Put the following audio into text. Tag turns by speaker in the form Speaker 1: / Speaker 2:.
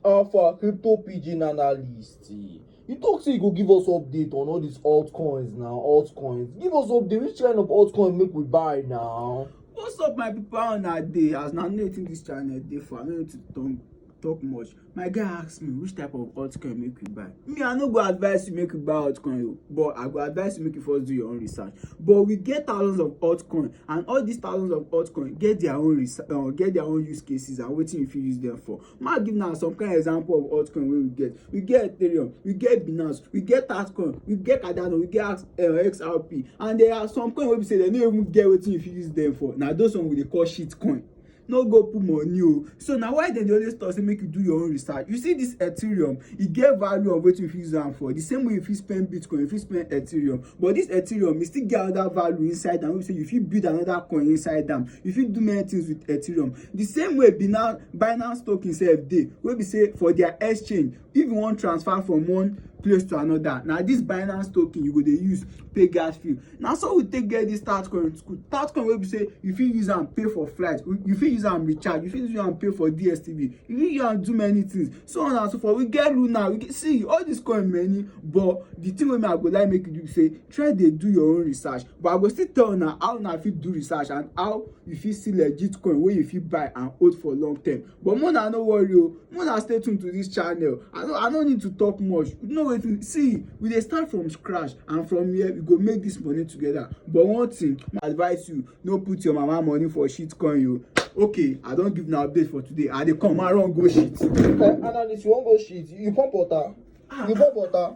Speaker 1: How far crypto pidgin analyst? You talk say you go give us update on all these altcoins now, altcoins. Give us update which kind of altcoin make we buy now? What's up my people how una dey? As na know wetin dis channel dey for, I no need to talk, talk much. My guy ask me which type of altcoin make we buy. me i no go advise you make you buy altcoin o but i go advise you make you first do your own research but we get thousands of altcoin and all these thousands of altcoin get their own research uh, get their own use cases and wetin you fit use them for ma give now some kind of example of altcoin wey we get we get ethereum we get binance we get altcoin we get cardano we get uh, xrp and there are some coin wey be say they no even get wetin you fit use them for na those one we dey call shitcoin no go put money o so na why dem dey always talk say make you do your own research you see this ethereum e get value of wetin you fit use am for the same way you fit spend bitcoin you fit spend ethereum but this ethereum e still get another value inside am wey be say you fit build another coin inside am you fit do many things with ethereum the same way binance binance token sef dey wey be say for their exchange if you wan transfer from one place to another na this binance token you go dey use pay gas fee na so we take get this tatcoin tatcoin wey be say you fit use am pay for flight you fit use am recharge you fit use am pay for dstv you fit use am do many things so on and so forth we get luna we get see all this coin many but the thing wey me i go like make you do be say try dey do your own research but i go still tell una how una fit do research and how you fit see legit coin wey you fit buy and hold for long term but more na no worry o more na stay tuned to this channel i no i no need to talk much you know wetin see we dey start from scratch and from here we go make this money together but one thing i advise you no put your mama money for shit coin o okay i don give una update for today i dey come i run go shit. Eh, analyst, you wan go shit? You pump water? You pump water?